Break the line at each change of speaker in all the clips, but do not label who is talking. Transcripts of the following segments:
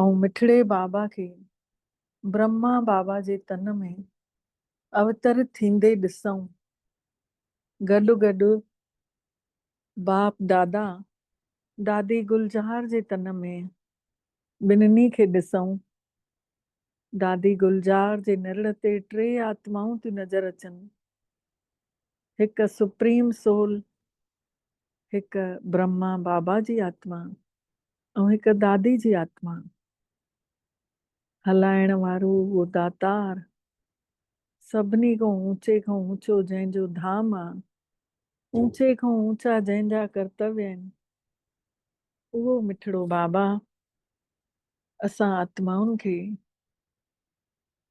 ائون مٺڙي بابا کي برهما بابا جي تن ۾ اوتر ٿيندي ڏسئون. گڏ گڏ باپ دادا دادي گلزار جي تن ۾ ٻنهي کي ڏسئون. دادي گلزار جي نرڙ تي ٽي آتمائون ٿيون نظر اچن. هڪ سپريم سول، هڪ برهما بابا جي آتما ۽ هڪ دادي جي آتما هلائڻ وارو اهو داتار سڀني کان اوچي کان اوچو جنهن جو ڌام آ، اوچي کان اوچا جنهن جا ڪرتوي آهن اهو مٺڙو بابا اسان آتمائن کي.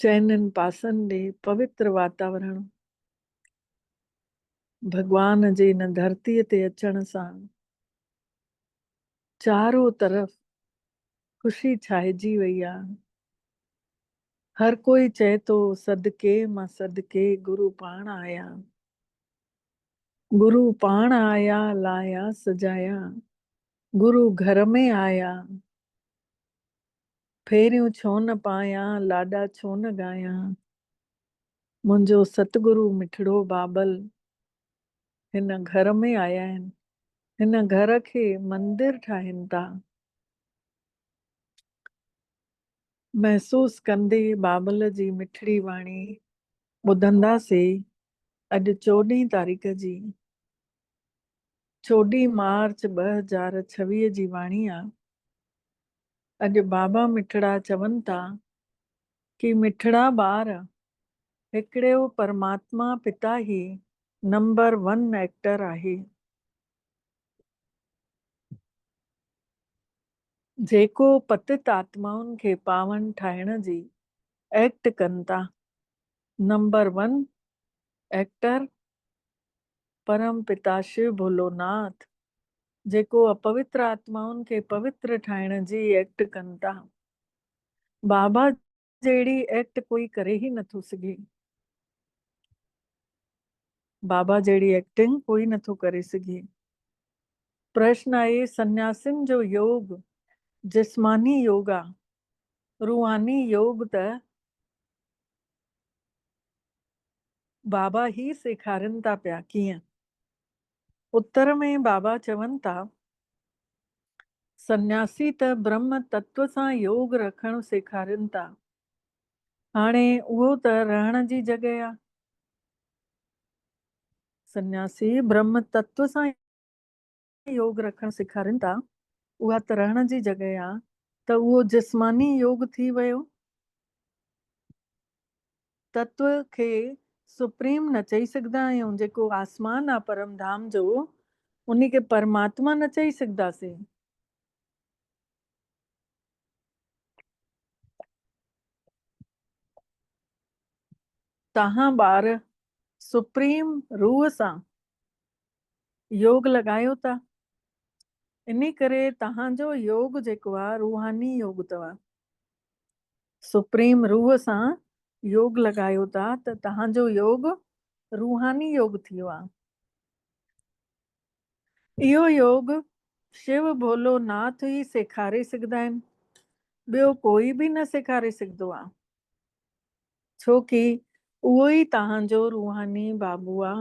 چئنن پاسن ڏي پوتر واتاورڻ ڀڳوان جي ان ڌرتي تي اچڻ سان چارو طرف خوشي ڇائجي وئي آ هر ڪوئي چئي ٿو صدقي مان صدقي گرو پاڻ آيا گرو پاڻ آيا لايا سجايا گرو گهر ۾ آيا. ڦيريون ڇو نه پايان، لاڏا ڇو نه ڳايان. منهنجو ستگرو مٺڙو بابل هن گهر ۾ آيا آهن. هن گهر کي مندر ٺاهين ٿا. محسوس ڪندي بابل جي مٺڙي واڻي ٻڌندا سي. اڄ چوڏهين تاريخ جي چوڏهين مارچ ٻه هزار ڇويهه جي واڻي آ. اڄ بابا مٺڙا چون ٿا ڪي مٺڙا ٻار هڪڙيو پرماتما پتا هي نمبر ون ايڪٽر آهي جيڪو پتت آتمائن کي پاون ٺاهڻ جي ايڪٽ ڪن ٿا نمبر ون ايڪٽر پرم پتا شو ڀولو ناٿ جيڪو اپوتر آتمائن کي پوتر ٺاهڻ جي ايڪٽ ڪن ٿا. بابا جهڙي ايڪٽ ڪوئي ڪري ئي نٿو سگهي. بابا جهڙي ايڪٽنگ ڪوئي نٿو ڪري سگهي. پرشن آهي سنياسين جو يوگ جسماني يوگ آ. روحاني يوگ ته بابا ئي سيکارين ٿا پيا. ڪيئن؟ اتر ۾ بابا چون ٿا، سنياسي ته برهم تتو سان يوگ رکڻ سيکارين ٿا. هاڻي اهو ته رهڻ جي جڳهه آ. سنياسي برهم تتو سان يوگ رکڻ سيکارين ٿا، اها ته رهڻ جي جڳهه آ ته اهو جسماني يوگ ٿي ويو. تتو کي سپريم نه چئي سگهدا آهيون جيڪو آسمان آ پرم ڌام جو انهي کي پرماتما نه چئي سگهداسين. توهان ٻار سپريم روح سان يوگ لڳايو ٿا انهي ڪري توهان جو يوگ جيڪو آ روحاني يوگ توهان سپريم روح سان يوگ لڳايو ٿا ته توهان جو يوگ روحاني يوگ ٿيو آ. اهو يوگ شو ڀولو ناٿ ئي سيکاري سگهدا آهن، ٻيو ڪوئي به نه سيکاري سگهدو آ. ڇو ڪي اهو ئي توهان جو روحاني بابو آ.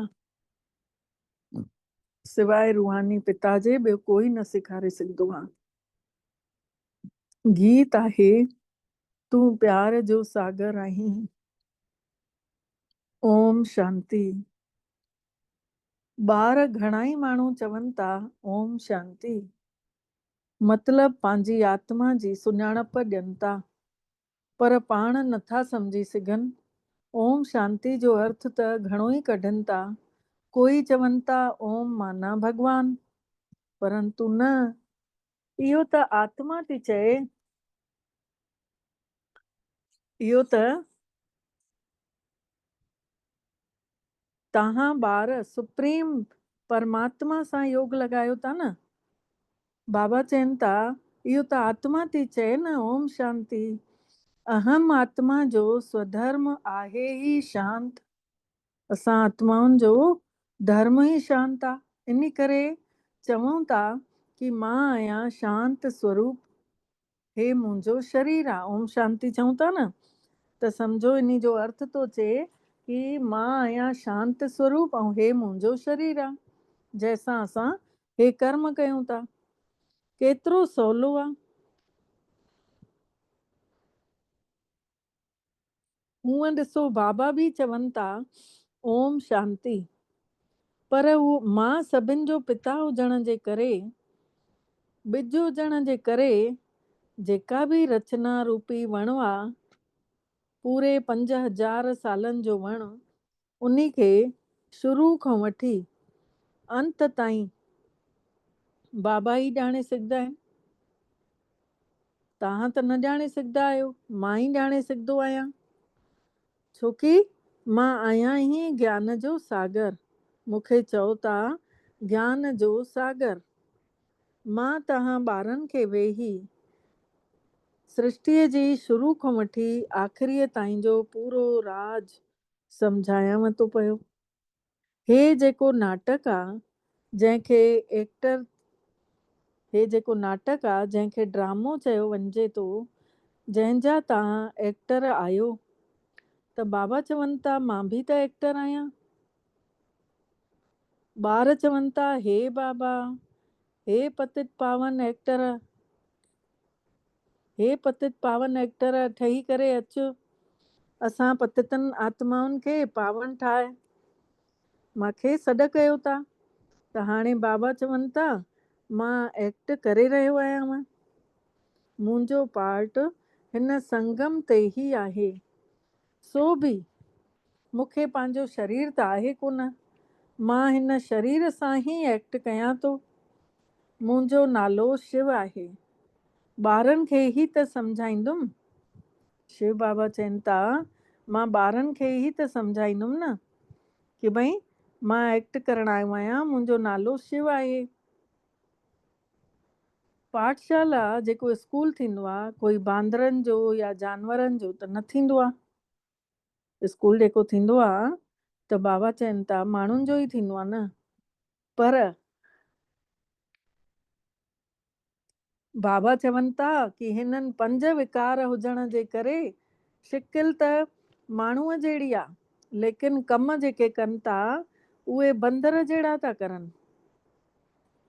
سواء روحاني پتا جي ٻيو ڪوئي نه سيکاري سگهدو آ. گيت آهي تون پيار جو ساگر آهين اوم شانتي ٻار گهڻائي ماڻهو چون ٿا اوم شانتي مطلب پنهنجي آتما جي سڃاڻپ ڏين ٿا پر پاڻ نٿا سمجهي سگهن. اوم شانتي جو ارٿ ته گهڻو ئي ڪڍن ٿا. ڪوئي چون ٿا اوم معنيٰ ڀڳوان. پرنتو نه. اهو ته آتما ٿي چئي. اهو ته. توهان ٻار سپريم پرماتما سان يوگ لڳايو ٿا نه؟ بابا چين ٿا اهو ته آتما ٿي چئي نه اوم شانتي. اهم آتما جو سوڌرم آهي ئي شانت. اسان آتمائن جو ڌرم ئي شانت آ انڪري چئون ٿا ڪي مان آهيان شانت سوروپ. هي منهنجو شرير آ. اوم شانتي چئون ٿا نه ته سمجهو انهي جو ارٿ ٿو چئي ڪي مان آهيان شانت سوروپ ۽ هي منهنجو شرير آ جنهن سان اسان هي ڪرم ڪيون ٿا. ڪيترو سولو آ. هونئن ڏسو بابا به چون ٿا اوم شانتي پر مان سڀن جو پتا هجڻ جي ڪري ٻج هجڻ جي ڪري جيڪا به رچنا روپي وڻ آ پوري پنج هزار سالن جو وڻ انهي کي شروع کان وٺي انت تائين بابا ئي ڄاڻي سگهندا آهن. توهان ته نه ڄاڻي سگهندا آهيو، مان ئي ڄاڻي سگهندو آهيان، ڇو ڪي مان آهيان ئي گيان جو ساگر، مون کي چئو ٿا گيان جو ساگر. مان توهان ٻارن کي ويهي سرشٽيء جي شروع کان وٺي آخريء تائين جو پورو راز سمجهايانء ٿو پيو. هي جيڪو ناٽڪ آ، جنهن کي ايڪٽر هي جيڪو ناٽڪ آ، جنهن کي ڊرامو چيو وڃجي ٿو، جنهن جا توهان ايڪٽر آهيو. ته بابا چون ٿا مان به ته ايڪٽر آهيان. ٻار چون ٿا هي بابا هي پتت پاون ايڪٽر هي پتت پاون ايڪٽر ٺهي ڪري اچ اسان پتتن آتمائن کي پاون ٺاهه مان کي سڏ ڪيو ٿا ته هاڻي بابا چون ٿا مان ايڪٽ ڪري رهيو آهيانو منهنجو پارٽ هن سنگم تي ئي آهي سو به مون کي پنهنجو شرير ته آهي ڪونه، مان هن شرير سان ئي ايڪٽ ڪيان ٿو. منهنجو نالو شو آهي. ٻارن کي ئي ته سمجهائيندم. شو بابا چين ٿا، مان ٻارن کي ئي ته سمجهائيندم نه ڪي ڀئي مان ايڪٽ ڪرڻ آيو آهيان، منهنجو نالو شو آهي. پاٺشالا جيڪو اسڪول ٿيندو آ ڪوئي باندرن جو يا جانورن جو ته نه ٿيندو آ. اسڪول جيڪو ٿيندو آ ته بابا چين ٿا ماڻهن جو ئي ٿيندو آ نه. پر بابا چون ٿا ڪي هنن پنج وڪار هجڻ جي ڪري شڪل ته ماڻهوء جهڙي آ ليڪن ڪم جيڪي ڪن ٿا اهي بندر جهڙا ٿا ڪرن.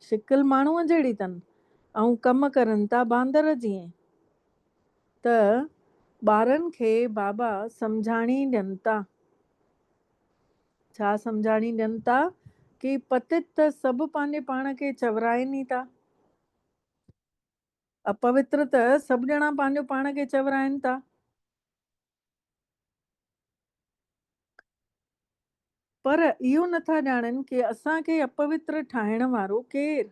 شڪل ماڻهوء جهڙي تن، ۽ ڪم ڪرن ٿا باندر جيئن. ته ٻارن کي بابا سمجهاڻي ڏين ٿا. ڇا سمجهاڻي ڏين ٿا؟ ڪي پتت ته سڀ پنهنجي پاڻ کي چورائين ئي ٿا. اپوتر ته سڀ ڄڻا پنهنجو پاڻ کي چورائين ٿا. پر اهو نه ٿا ڄاڻن ڪي اسان کي اپوتر ٺاهڻ وارو ڪير؟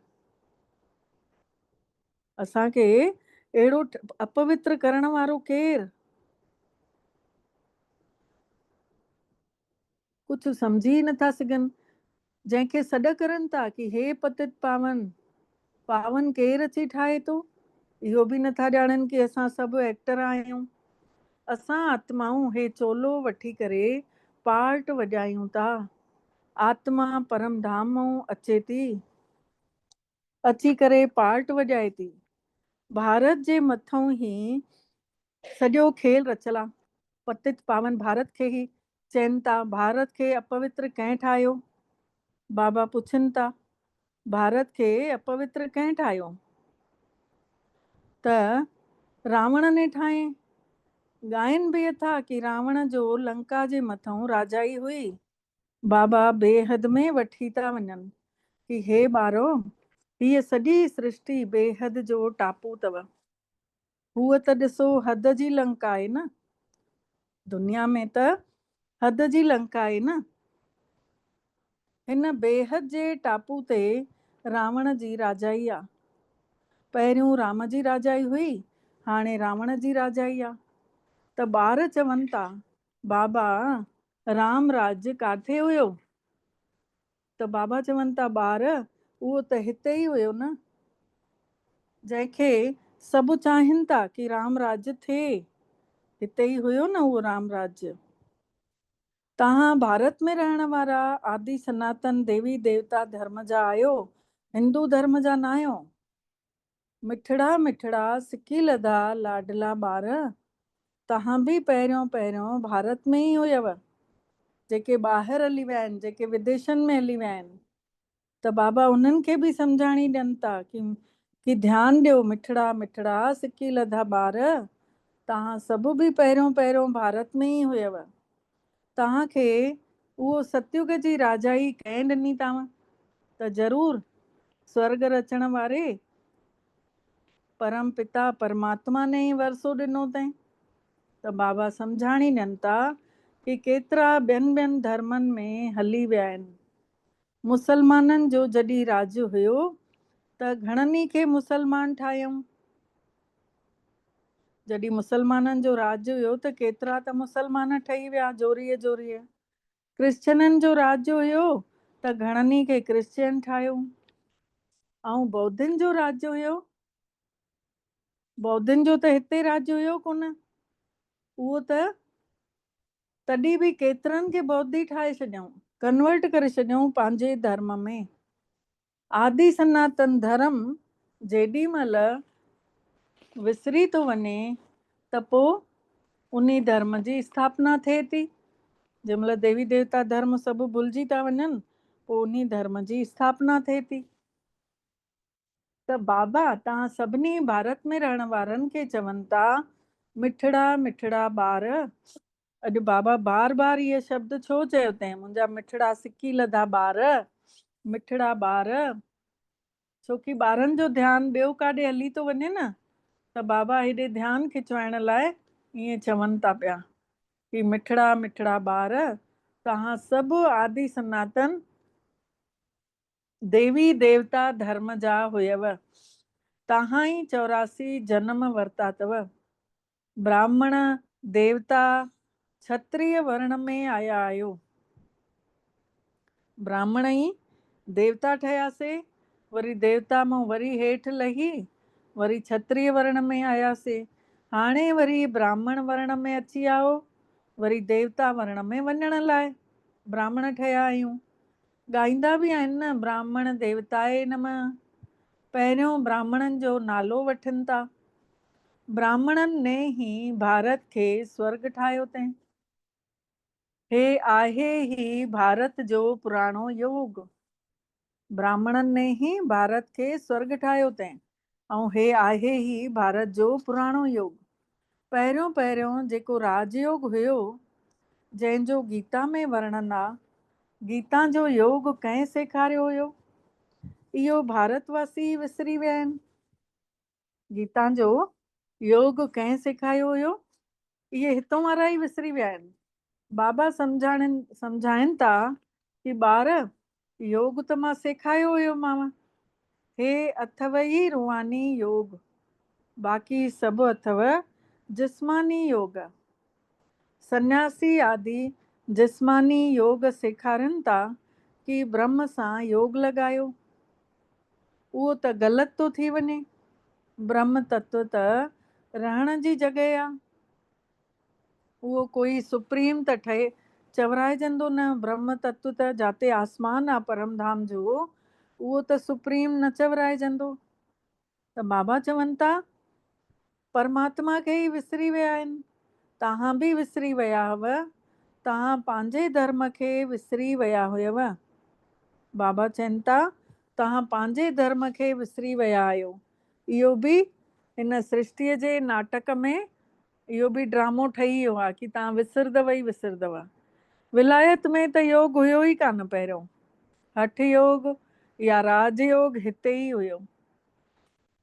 اسان کي اهڙو اپوتر ڪرڻ وارو ڪير؟ ڪجهه سمجهي ئي نٿا سگهن، جنهن کي سڏ ڪرن ٿا ڪي هي پتت پاون، پاون ڪير اچي ٺاهي ٿو، اهو به نٿا ڄاڻن ڪي اسان سڀ ايڪٽر آهيون، اسان آتمائون هي چولو وٺي ڪري پارٽ وڄايون ٿا، آتما پرم ڌام مئون اچي ٿي. اچي ڪري پارٽ وڄائي ٿي. ڀارت جي مٿئون هي سڄو کيل رچيل آ. پتت پاون ڀارت کي هي چين ٿا ڀارت کي اپوتر ڪنهن ٺاهيو؟ بابا پڇن ٿا ڀارت کي اپوتر ڪنهن ٺاهيو؟ ته راوڻ ني ٺاهين. ڳائين به اٿا ڪي راوڻ جو لنڪا جي مٿئون راجائي هئي. بابا بي حد ۾ وٺي ٿا وڃن ڪي هي ٻارو هيء سڄي سرشٽي بي حد جو ٽاپو اٿو. هوء ته ڏسو حد جي لنڪ آهي نه. دنيا ۾ ته حد جي لنڪ آهي نه. هن بي حد جي ٽاپو تي راوڻ جي راجائي آ. پهريون رام جي راجائي هئي هاڻي راوڻ جي راجائي آ ته ٻار چون ٿا بابا، رام راج ڪاٿي هيو؟ ته بابا چون ٿا، ٻار، اهو ته هتي ئي هيو نه، جنهن کي سڀ چاهين ٿا ڪي رام راج ٿئي، هتي ئي هيو نه اهو رام راج. توهان ڀارت ۾ رهڻ وارا آدي سناتن ديوي ديوتا ڌرم جا آهيو، هندو ڌرم جا ناهيو. مٺڙا مٺڙا سڪي لڌا لاڊلا ٻار، توهان به پهريون پهريون ڀارت ۾ ئي هيو، جيڪي ٻاهر هلي ويا آهن، جيڪي وديشن ۾ هلي ويا آهن ته بابا انهن کي به سمجهاڻي ڏين ٿا ڪي ڌيان ڏيو مٺڙا مٺڙا سڪي لڌا ٻار، توهان سڀ به پهريون پهريون ڀارت ۾ ئي هيو، تانء کي اهو ستيوگ جي راجائي ڪنهن ڏني تانء ته ضرور سورڳ رچڻ واري پرم پتا پرماتما ني ئي ورثو ڏنو تين ته بابا سمجهاڻي ڏين ٿا ڪي ڪيترا ٻين ٻين ڌرمن ۾ هلي ويا آهن مسلمانن جو جڏھن راڄ ھيو ته گھڻن ئي کي مسلمان ٺاھيائون. جڏھن مسلمانن جو راڄ ھيو ته ڪيترا ته مسلمان ٺھي ويا جوريء جوريء. ڪرسچنن جو راڄ ھيو ته گھڻن ئي کي ڪرسچين ٺاھيو ۽ بودھن جو راڄ ھيو بودھن جو ته ھتي راڄ ھيو ڪونه اھو ته تڏهن به ڪيترن کي بودي ٺاهي ڇڏيائون، Convert، ڪري ڇڏيائون پنهنجي ڌرم ۾. آدي سناتن ڌرم جيڏي مهل وسري ٿو وڃي ته پوء انهي ڌرم جي اسٿاپنا ٿئي ٿي. جنهن مهل ديوي ديوتا ڌرم سڀ ڀلجي ٿا وڃن پوء انهي ڌرم جي اسٿاپنا ٿئي ٿي. ته بابا توهان سڀني ڀارت ۾ رهڻ وارن کي چون ٿا مٺڙا مٺڙا ٻار. اڄ بابا بار بار اهي شبد ڇو چيو تين منهنجا مٺڙا سڪي لڌا ٻار مٺڙا ٻار. ڇو ڪي ٻارن جو ڌيان ٻيو ڪاڏي هلي ٿو وڃي نه ته بابا هيڏي ڌيان کچوائڻ لاء ائين چون ٿا پيا ڪي مٺڙا مٺڙا ٻار توهان سڀ آدي سناتن ديوي ديوتا ڌرم جا هيئو. تهان ئي چوراسي جنم ورتا تئو. براهمڻ، ديوتا، ڇتريه ورڻ ۾ آيا آهيو. براهمڻ ئي ديوتا ٺهياسي، وري ديوتا مئو وري هيٺ لهي، وري ڇتريه ورڻ ۾ آياسي. هاڻي وري براهمڻ ورڻ ۾ اچي آئو، وري ديوتا ورڻ ۾ وڃڻ لاء براهمڻ ٺهيا آهيون. ڳائيندا به آهن نه براهمڻ ديوتائي نمه، پهريون براهمڻن جو نالو وٺن ٿا. براهمڻن ني هي ڀارت کي سورڳ ٺاهيو تين. هي آهي هي ڀارت جو پراڻو يوگ. براهمڻن ني هي ڀارت کي سورڳ ٺاهيو تين. ۽ هي آهي ئي ڀارت جو پراڻو يوگ. پهريون پهريون جيڪو راج يوگ هيو، جنهن جو گيتا ۾ ورڻن آ، گيتا جو يوگ ڪنهن سيکاريو هيو؟ اهو ڀارت واسي ئي وسري ويا آهن. گيتا جو يوگ ڪنهن سيکايو هيو؟ اهي هتون وارا ئي وسري ويا آهن. بابا سمجهاڻين سمجهائين ٿا ڪي ٻار يوگ ته مان سيکايو هيومانء. هي اٿو ئي روحاني يوگ. باقي سڀ اٿو جسماني يوگ. سنياسي آدي جسماني يوگ سيکارين ٿا ڪي برهمه سان يوگ لڳايو. اهو ته غلط ٿو ٿي وڃي. برهم تتو ته رهڻ جي جڳهه آ. اهو ڪوئي سپريم ته ٺهي چورائجندو نه. برهم تتو ته جاتي آسمان آ پرم ڌام جو، اهو ته سپريم نه چورائجندو. ته بابا چون ٿا پرماتما کي ئي وسري ويا آهن. توهان به وسري ويا هئو. توهان پنهنجي ڌرم کي وسري ويا هيو. بابا چين ٿا، توهان پنهنجي ڌرم کي وسري ويا آهيو. اهو به هن سرشتيء جي ناٽڪ ۾ اهو به ڊرامو ٺهي ويو آهي ڪي توهان وسردو ئي وسردو. ولايت ۾ ته يوگ هيو ئي ڪانه پهريون. هٺ يوگ يا راج يوگ هتي ئي هيو.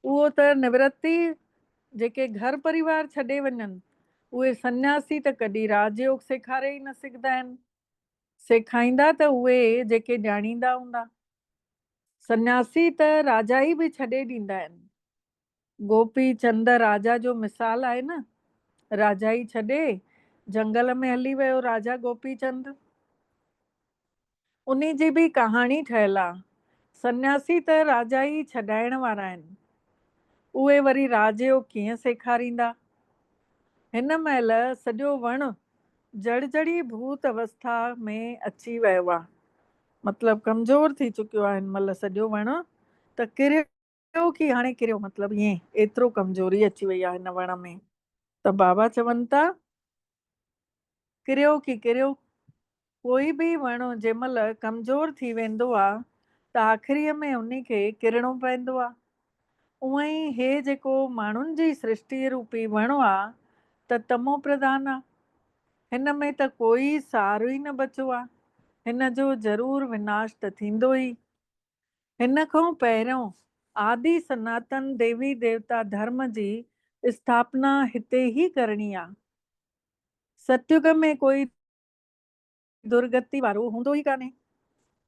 اهو ته نورتي جيڪي گهر پريوار ڇڏي وڃن، اهي سنياسي ته ڪڏهن راج يوگ سيکاري ئي نه سگهندا آهن. سيکائيندا ته اهي جيڪي ڄاڻيندا هوندا. سنياسي ته راجائي به ڇڏي ڏيندا آهن. گوپي چند راجا جو مثال آهي نه. راجائي ڇڏي جهنگل ۾ هلي ويو راجا گوپي چند. انهي جي به ڪهاڻي ٺهيل آ. سنياسي ته راجا ئي ڇڏائڻ وارا آهن. اهي وري راج جو ڪيئن سيکاريندا. هن مهل سڄو وڻ جڙجڙي ڀوت اوسٿا ۾ اچي ويو آ. مطلب ڪمزور ٿي چڪيو آ هن مهل سڄو وڻ ته ڪريو ڪريو ڪي هاڻي ڪريو مطلب ائين ايترو ڪمزوري اچي وئي آهي هن وڻ ۾ ته بابا چون ٿا ڪريو ڪي ڪريو ڪوئي به وڻ جنهن مهل ڪمزور ٿي ويندو آ ته آخري ۾ ان کي ڪرڻو پوندو آ اونئن ئي هي جيڪو ماڻهن جي سرشٽي روپي وڻ آ ته تمو پرڌان آ هن ۾ ته ڪوئي سارو ئي نه بچو آ هن جو ضرور وناش ته ٿيندو ئي هن کان پهريون آدي سناتن ديوي ديوتا ڌرم جي اسٿاپنا هتي ئي ڪرڻي آ. ستيوگ ۾ ڪوئي درگتي وارو هوندو ئي ڪانهي.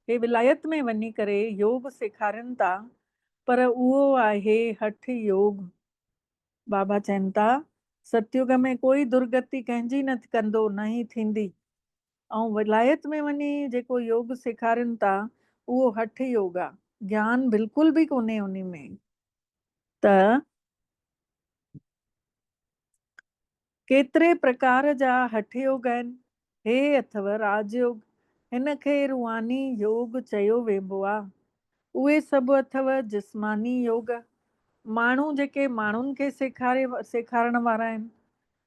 هي ولايت ۾ وڃي ڪري يوگ سيکارين ٿا پر اهو آهي هٺ يوگ. بابا چين ٿا ستيوگ ۾ ڪوئي درگتي ڪنهن جي نه ڪندو نه ئي ٿيندي. ۽ ولايت ۾ وڃي جيڪو يوگ سيکارين ٿا اهو هٺ يوگ آ گيان بلڪل به ڪونهي انهي ۾ ته ڪيتري پرڪار جا هٺ يوگ آهن هي اٿو راج يوگ هن کي روحاني يوگ چيو ويبو آ اهي سڀ اٿو جسماني يوگ ماڻهو جيڪي ماڻهن کي سيکاري سيکارڻ وارا آهن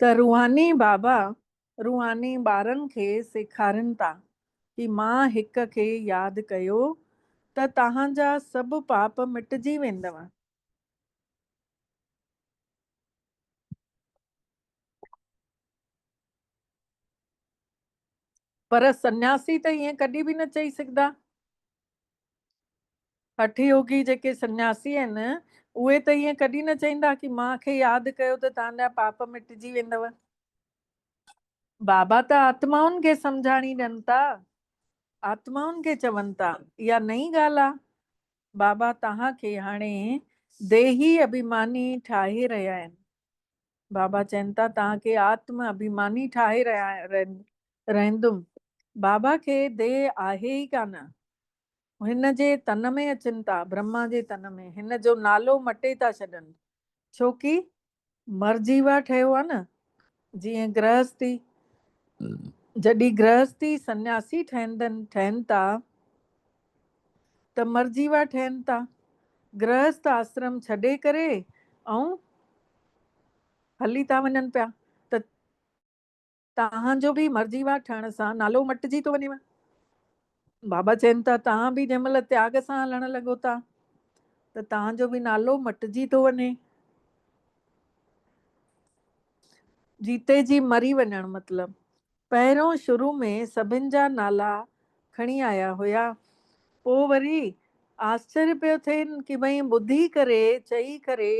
ته روحاني بابا روحاني ٻارن کي سيکارين ٿا ڪي مان هڪ کي ياد ڪيو ته توهان جا سڀ پاپ مٽجي ويندو. پر سنياسي ته ائين ڪڏهن به نه چئي سگهندا. هٺ يوگي جيڪي سنياسي آهن، اهي ته ائين ڪڏهن نه چئيندا ڪي مان کي ياد ڪيو ته توهان جا پاپ مٽجي ويندو. بابا ته آتمائن کي سمجهاڻي ڏين ٿا، آتمائن کي چون ٿا. اها نئين ڳالهه آهي. بابا توهان کي هاڻي ديهي ابهيماني ٺاهي رهيا آهن. بابا چين ٿا توهان کي آتم اڀيماني ٺاهي رهندم. بابا کي ديهه آهي ئي ڪانه. هن جي تن ۾ اچن ٿا، برهما جي تن ۾، هن جو نالو مٽي ٿا ڇڏن. ڇوڪي مر جيوا ٺهيو آهي نه. جيئن گرهستي، جڏهن گرهستي سنياسي ٺهن ٿا، ته مرجيوا ٺهن ٿا. گرهست آسرم ڇڏي ڪري ۽ هلي ٿا وڃن پيا ته توهان جو به مرجيوا ٺهڻ سان نالو مٽجي ٿو وڃيو. بابا چين ٿا توهان به جنهن مهل تياڳ سان هلڻ لڳو ٿا ته توهان جو به نالو مٽجي ٿو وڃي. جيتي جي مري وڃڻ مطلب پهريون شروع ۾ سڀن جا نالا کڻي آيا هيا، پوء وري آسچريه پيو ٿين ڪي ڀئين ٻڌي ڪري چئي ڪري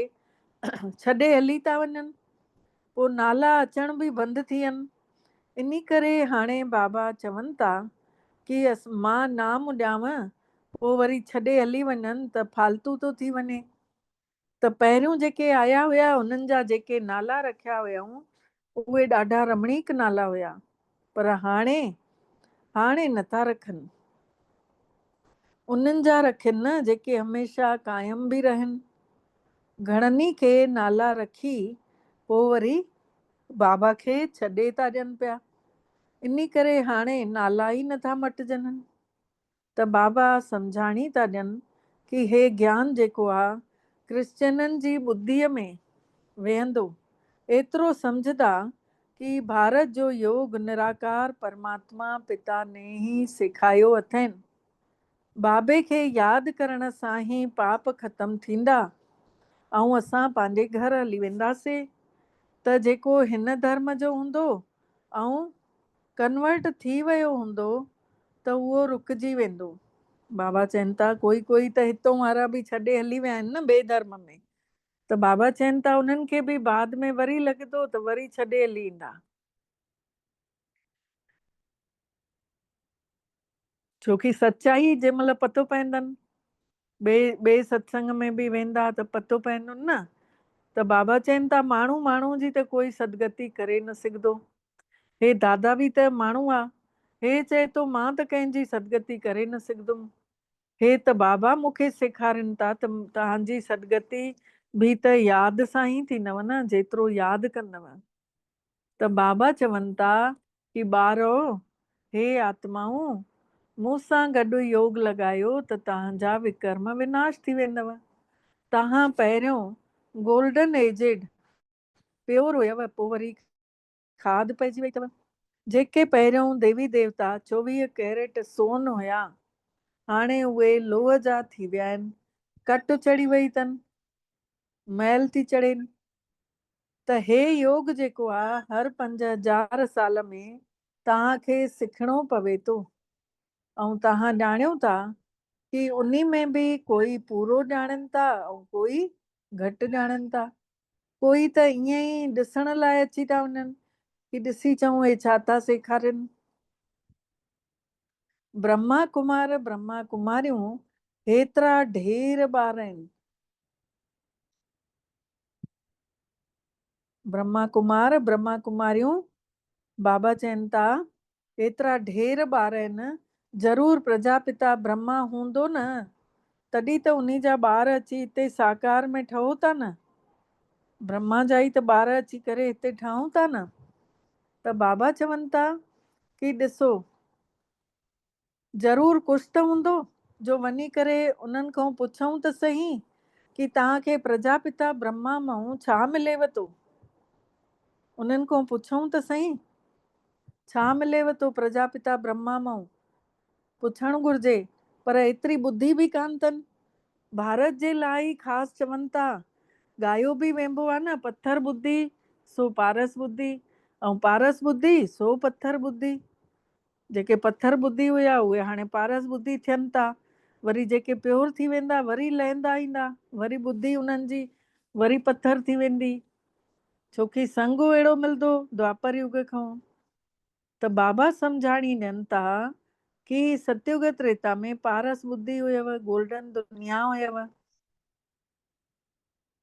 ڇڏي هلي ٿا وڃن، پوء نالا اچڻ به بند ٿين، انهي ڪري هاڻي بابا چون ٿا ڪي مان نام ڏيانون پوء وري ڇڏي هلي وڃن ته فالتو ٿو ٿي وڃي. ته پهريون جيڪي آيا هيا انهن جا جيڪي نالا رکيا هيائون اهي ڏاڍا رمڻيڪ نالا هيا پر هاڻي هاڻي نه ٿا رکن انهن جا رکين نه جيڪي هميشه قائم به رهن گهڻن ئي کي نالا رکي پوء وري بابا کي ڇڏي ٿا ڏين پيا انهي ڪري هاڻي نالا ئي نه ٿا مٽجنن ته بابا سمجهاڻي ٿا ڏين ڪي هي گيان جيڪو آ ڪرسچينن جي ٻڌيء ۾ ويهندو ايترو سمجهه دا ڪي ڀارت جو يوگ نراڪار پرماتما پتا ني هي سيکايو اٿين بابي کي ياد ڪرڻ سان هي پاپ ختم ٿيندا ۽ اسان پنهنجي گهر هلي وينداسي ته جيڪو هن ڌرم جو هوندو ۽ ڪنورٽ ٿي ويو هوندو ته اهو رڪجي ويندو. بابا چين ٿا ڪوئي ڪوئي ته هتون وارا به ڇڏي هلي ويا آهن نه ٻئي ڌرم ۾، ته بابا چين ٿا انهن کي به بعد ۾ وري لڳندو ته وري ڇڏي هلي ايندا. ڇو ڪي سچائي جنهن مهل پتو پوندن ٻئي ٻئي ستسنگ ۾ به ويندا ته پتو پوندن نه ته بابا چين ٿا ماڻهو ماڻهو جي ته ڪوئي سدگتي ڪري نه سگهدو هي دادا به ته ماڻهو آ هي چئي ٿو مان ته ڪنهن جي سدگتي ڪري نه سگهدم هي ته بابا مون کي سيکارين ٿا ته توهان جي سدگتي به ته ياد سان ئي ٿيندو نه جيترو ياد ڪندو ته بابا چون ٿا ڪي ٻارؤ، هي آتمائون، مون سان گڏ يوگ لڳايو ته توهان جا وڪرم وناش ٿي ويندؤ. توهان پهريون گولڊن ايجڊ پيور هيؤ پوء وري کاڌ پئجي وئي اٿؤ. جيڪي پهريون ديوي ديوتا چوويهه ڪيريٽ سون هيا، هاڻي اهي لوهه جا ٿي ويا آهن. ڪٽ چڙهي وئي اٿن، مئل ٿي چڙهين. ته هي يوگ جيڪو آ هر پنج هزار سال ۾ توهان کي سکڻو پوي ٿو ۽ توهان ڄاڻيو ٿا ڪي انهي ۾ به ڪوئي پورو ڄاڻين ٿا ۽ ڪوئي گهٽ ڄاڻين ٿا ڪوئي ته ائين ئي ڏسڻ لاء اچي ٿا وڃن ڪي ڏسي چئون هي ڇا ٿا سيکارين برهما ڪمار برهما ڪماريون هيترا ڍير ٻار آهن. برهما ڪمار، برهما ڪماريون، بابا چين ٿا، ايترا ڍير ٻار آهن، ضرور پرجاپتا برهما هوندو نه، تڏهن ته انهي جا ٻار اچي هتي ساڪار ۾ ٺهو ٿا نه، برهما جا ئي ته ٻار اچي ڪري هتي ٺهون ٿا نه، ته بابا چون ٿا ڪي ڏسو! ضرور ڪجهه ته هوندو جو وڃي ڪري انهن کئون پڇئون ته سهي ڪي توهان کي پرجاپتا برهما مئون ڇا مليو ٿو؟ انهن کئون پڇئون ته سهي ڇا مليو ٿو پرجاپتا برهما مئون؟ پڇڻ گهرجي پر ايتري ٻڌي به ڪانه ٿن. ڀارت جي لاء ئي خاص چون ٿا. ڳايو به وينبو آ نه پٿر ٻڌي سو پارس ٻڌي ۽ پارس ٻڌي سو پٿر ٻڌي. جيڪي پٿر ٻڌي هيا اهي هاڻي پارس ٻڌي ٿين ٿا وري جيڪي پيور ٿي ويندا وري لهندا ايندا وري ٻڌي انهن جي وري پٿر ٿي ويندي ڇوڪي سنگ اهڙو ملدو دوآپر يگ کان ته بابا سمجهاڻي ڏين ٿا ڪي ستيوگ تريتا ۾ پارس ٻڌي هيو گولڊن دنيا هيو.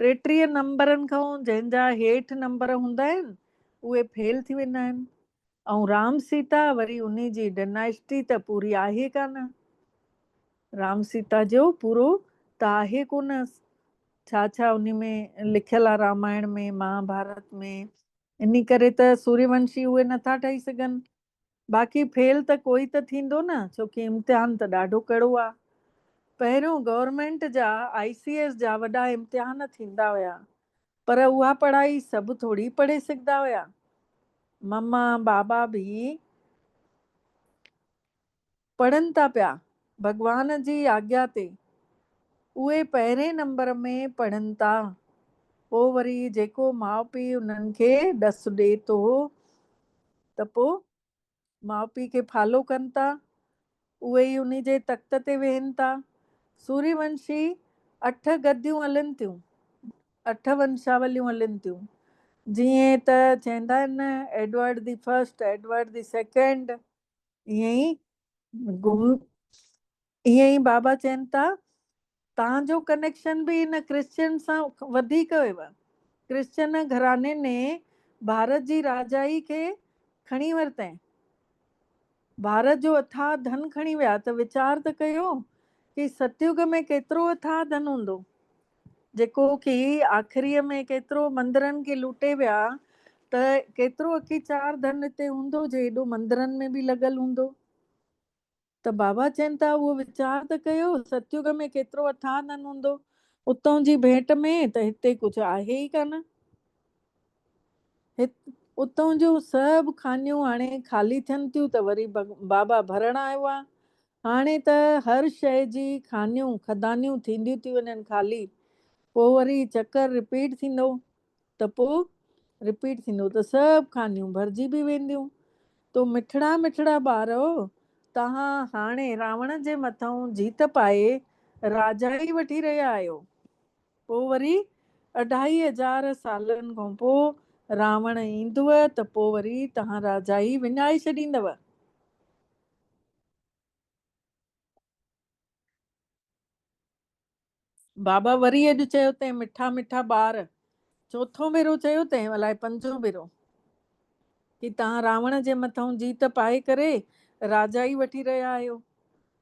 ٽيٽيهه نمبرن کان جنهن جا هيٺ نمبر هوندا آهن اهي فيل ٿي ويندا آهن ۽ رام سيتا وري انهي جي ڊناسٽي ته پوري آهي ڪانه. رام سيتا جو پورو ته آهي ڪونه ڇا ڇا انهي ۾ لکيل آ رامائڻ ۾ مهاڀارت ۾ انهي ڪري ته سوريونشي اهي نٿا ٺهي سگهن باقي فيل ته ڪوئي ته ٿيندو نه ڇوڪي امتحان ته ڏاڍو ڪڙو آ. پهريون گورنمينٽ جا آئي سي ايس جا وڏا امتحان ٿيندا هيا پر اها پڙهائي سڀ ٿوڙي پڙهي سگهدا هيا. مما بابا به پڙهن ٿا پيا ڀڳوان جي آگيا تي اهي پهرين نمبر ۾ پڙهن ٿا پو وري جيڪو ماء پي انهن کي ڏس ڏي ٿو ته پو ماء پي کي فالو ڪن ٿا اهي ئي انهي جي تخت تي ويهن ٿا سوري ونشي اٺ گديون هلن ٿيون اٺ ونشاوليون هلن ٿيون جيئن ته چيندا آهن نه Edward the first Edward the second ائين ئي گم ائين ئي بابا چين ٿا تان جو ڪنيڪشن به ان ڪرسچن سان وڌيڪ هيو ڪرسچن گهراڻي ني ڀارت جي راجائي کي کڻي ورتين ڀارت جو اٿاھ ڌن کڻي ويا ته ويچار ته ڪيو ڪي ستيوگ ۾ ڪيترو اٿاھ ڌن هوندو جيڪو ڪي آخريء ۾ ڪيترو مندرن کي لوٽي ويا ته ڪيترو اڪي چار ڌن اتي هوندو جي ايڏو مندرن ۾ به لڳل هوندو. ته بابا چين ٿا اهو ويچار ته ڪيو ستيوڳ ۾ ڪيترو اٿاهه ڌن هوندو اتئون جي ڀيٽ ۾ ته هتي ڪجهه آهي ئي ڪانه. هت اتئون جون سڀ کانيون هاڻي خالي ٿين ٿيون ته وري بابا ڀرڻ آيو آ هاڻي ته هر شيء جي خانيون خدانيون ٿينديون ٿيون وڃن خالي پوء وري چڪر رپيٽ ٿيندو ته پوء رپيٽ ٿيندو ته سڀ خانيون ڀرجي به وينديون تو مٺڙا مٺڙا ٻار او توهان هاڻي راوڻ جي مٿئون جيت پائي راجائي وٺي رهيا آهيو پوء وري اڍائي هزار سالن کان پوء راوڻ ايندو ته پوء وري توهان راجائي وڃائي ڇڏيندو. بابا وري اڄ چيو تنهن مٺا مٺا ٻار چوٿون ڀيرو چيو تنهن الائي پنجون ڀيرو ڪي تهان راوڻ جي مٿئون جيت پائي ڪري راجائي وٺي رهيا آهيو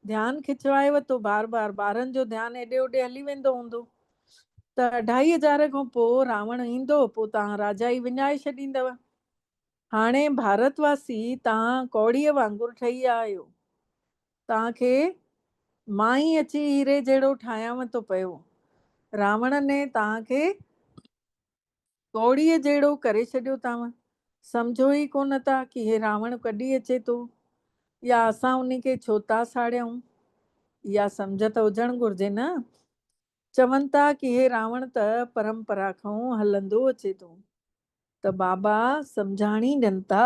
ڌيان کچوائي وتو بار بار ٻارن جو ڌيان ايڏي اوڏي هلي ويندو هوندو ته اڍائي هزار کان پوء راوڻ ايندو پوء تهان راجائي وڃائي ڇڏيندو هاڻي ڀارت واسي توهان ڪوڙيء وانگر ٺهي ويا آهيو. توهان کي مان ئي اچي هيري جهڙو ٺاهيانو ٿو پيو. راوڻ ني توهان کي ڪوڙيء جهڙو ڪري ڇڏيو توهان سمجهو ئي ڪونه ٿا ڪي هي راوڻ ڪڏي اچي ٿو يا اسان ان کي ڇو ٿا ساڙيائون. اها سمجهه ته هجڻ گهرجي نه چون ٿا ڪي هي راوڻ ته پرمپرا کئون هلندو اچي ٿو ته بابا سمجهاڻي ڏين ٿا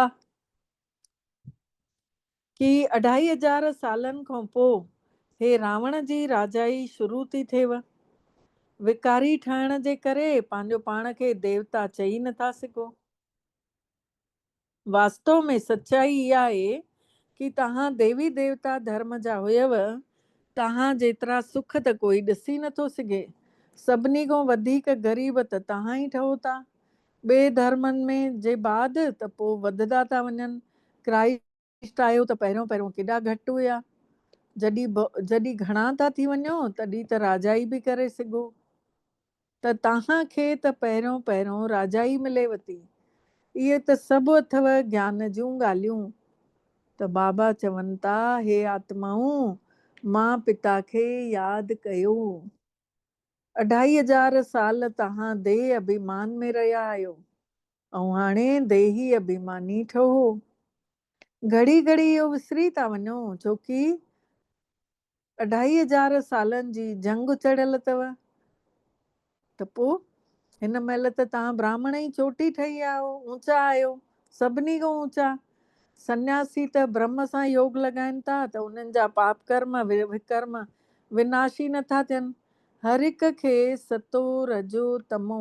ڪي اڍائي هزار سالن کئون پو هي راوڻ جي راجائي شروع ٿي ٿيو وڪاري ٺهڻ جي ڪري پنهنجو پاڻ کي ديوتا چئي نه ٿا سگهو. واستو ۾ سچائي اها آهي ڪي توهان ديوي ديوتا ڌرم جا هيو، توهان جيترا سک ته ڪوئي ڏسي نه ٿو سگهي، سڀني کان وڌيڪ غريب ته توهان ئي ٺهو ٿا، ٻئي ڌرمن ۾ جي بعد ته پوء وڌدا ٿا وڃن، ڪرائسٽ. ٽيسٽ آيو ته پهريون پهريون ڪيڏا گهٽ هيا. جڏهن ڀؤ جڏهن گهڻا ٿا ٿي وڃو تڏهن ته راجائي به ڪري سگهو ته تهان کي ته پهريون پهريون راجائي ملي وتي. اهي ته سڀ اٿئو گيان جون ڳالهيون. ته بابا چون ٿا هي آتمائون مان پتا کي ياد ڪيو. اڍائي هزار سال تهان ديهه ابهيمان ۾ رهيا آهيو. ائون هاڻي ديهي اڀيماني ٺهو. گهڙي گهڙي اهو وسري ٿا وڃو ڇو ڪي اڍائي هزار سالن جي جهنگ چڙهيل اٿو ته پو هن مهل ته توهان براهمڻ ئي چوٽي ٺهي آهو اوچا آهيو سڀني کان اوچا سنياسي ته برهم سان يوگ لڳائين ٿا ته انهن جا پاپ ڪرم وڪرم وناش ئي نٿا ٿين هر هڪ کي ستو رجو تمو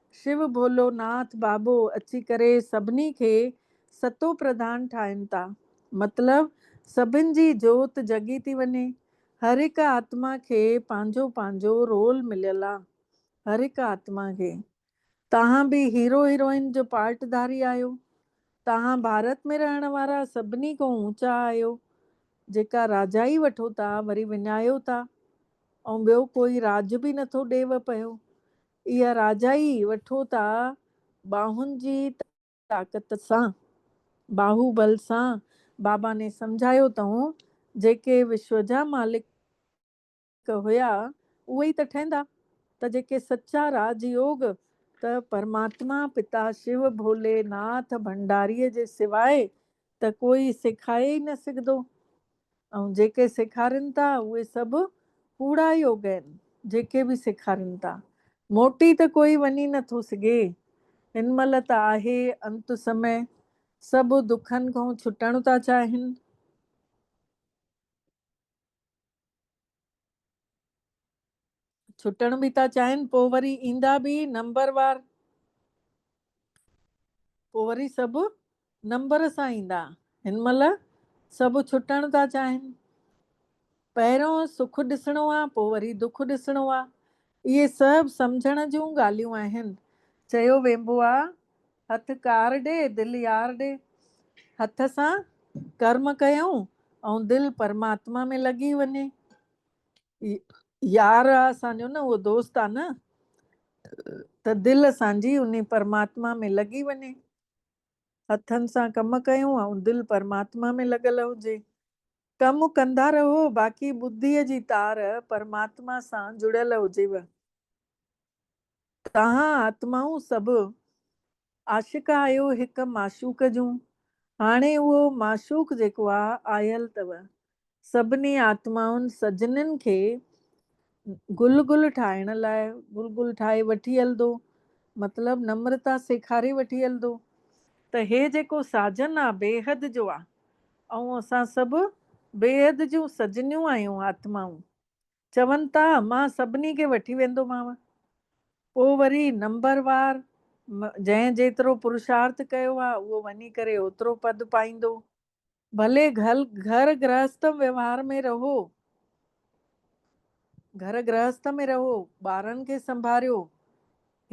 شو ڀولو ناٿ بابو اچي ڪري سڀني کي ستو پرڌان ٺاهين ٿا. مطلب سڀن جي جوت جڳي ٿي وڃي. هر هڪ آتما کي پنهنجو پنهنجو رول مليل آ. هر هڪ آتما کي. توهان به هيرو هيروئن جو پارٽ ڌاري آهيو. توهان ڀارت ۾ رهڻ وارا سڀني کون اوچا آهيو. جيڪا راجائي وٺو ٿا وري وڃايو ٿا. ۽ ٻيو ڪوئي راڄ به نٿو ڏيو پيو. اها راجائي وٺو ٿا ٻانهن جي طاقت سان. باهو بل سان بابا ني سمجهايو تئون جيڪي وشو جا مالڪ هيا اهي ئي ته ٺهندا ته جيڪي سچا راج يوگ ته پرماتما پتا شو ڀولي ناٿ ڀنڊاري جي سواء ته ڪوئي سيکائي ئي نه سگهندو ۽ جيڪي سيکارين ٿا اهي سڀ ڪوڙا يوگ آهن جيڪي به سيکارين ٿا موٽي ته ڪوئي وڃي نه ٿو سگهي هن مهل ته آهي انت سمي سڀ دکن کان ڇٽڻ ٿا چاهين ڇٽڻ به ٿا چاهين پوء وري ايندا به نمبر وار پوء وري سڀ نمبر سان ايندا هن مهل سڀ ڇٽڻ ٿا چاهين پهريون سک ڏسڻو آ پوء وري دک ڏسڻو آ اهي سڀ سمجهڻ جون ڳالهيون آهن چيو وينبو آ هٿ ڪار ڏي دل يار ڏي هٿ سان ڪرم ڪيون ۽ دل پرماتما ۾ لڳي وڃي يار آ اسان جو نه اهو دوست آ نه ته دل اسان جي انهي پرماتما ۾ لڳي وڃي هٿن سان ڪم ڪيون ۽ دل پرماتما ۾ لڳل هجي ڪم ڪندا رهو باقي ٻڌيء جي تار پرماتما سان جڙيل هجيو توهان آتمائون سڀ عاشق آهيو هڪ معشوق جون، هاڻي اهو معشوق جيڪو آ آيل تؤ، سڀني آتمائن سجنين کي گل گل ٺاهڻ لاء گل گل ٺاهي وٺي هلندو، مطلب نمرتا سيکاري وٺي هلندو، ته هي جيڪو ساجن آ بيحد جو آ، ائون اسان سڀ بيحد جون سجنيون آهيون آتمائون، چون ٿا مان سڀني کي وٺي ويندومانء. پوء وري نمبر وار جنهن جيترو پرشارٿ ڪيو آ اهو وڃي ڪري اوترو پد پائيندو. ڀلي گهل گهر گرهسته ويوهار ۾ رهو گهر گرهسته ۾ رهو ٻارن کي سنڀاريو.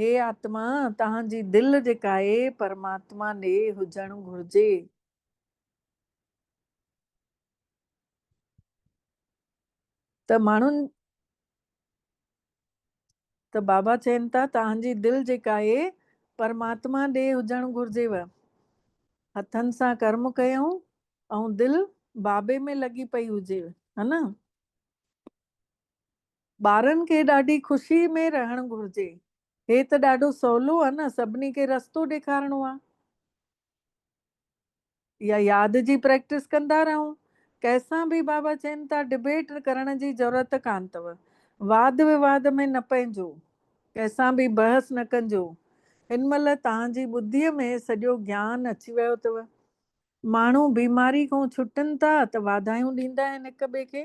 هي آتما توهان جي دل جيڪاهي پرماتما ڏي هجڻ گهرجي. ته ماڻهن ته بابا چين ٿا توهان جي دل جيڪا اهي پرماتما ڏي هجڻ گهرجيو. هٿن سان ڪرم ڪيون ۽ دل بابي ۾ لڳي پئي هجي ها نه. ٻارن کي ڏاڍي خوشي ۾ رهڻ گهرجي. هي ته ڏاڍو سولو ها نه سڀني کي رستو ڏيکارڻو ها. يا ياد جي پريڪٽس ڪندا رهون. ڪنهن سان به بابا چين ٿا ڊبيٽ ڪرڻ جي ضرورت ڪانه اٿو. واد وواد ۾ نه پئجو. ڪنهن سان به بحث نه ڪنجو. هن مهل توهان جي ٻڌيء ۾ سڄو گيان اچي ويو اٿو. ماڻهو بيماري کون ڇٽن ٿا ته واڌايون ڏيندا آهن هڪ ٻئي کي.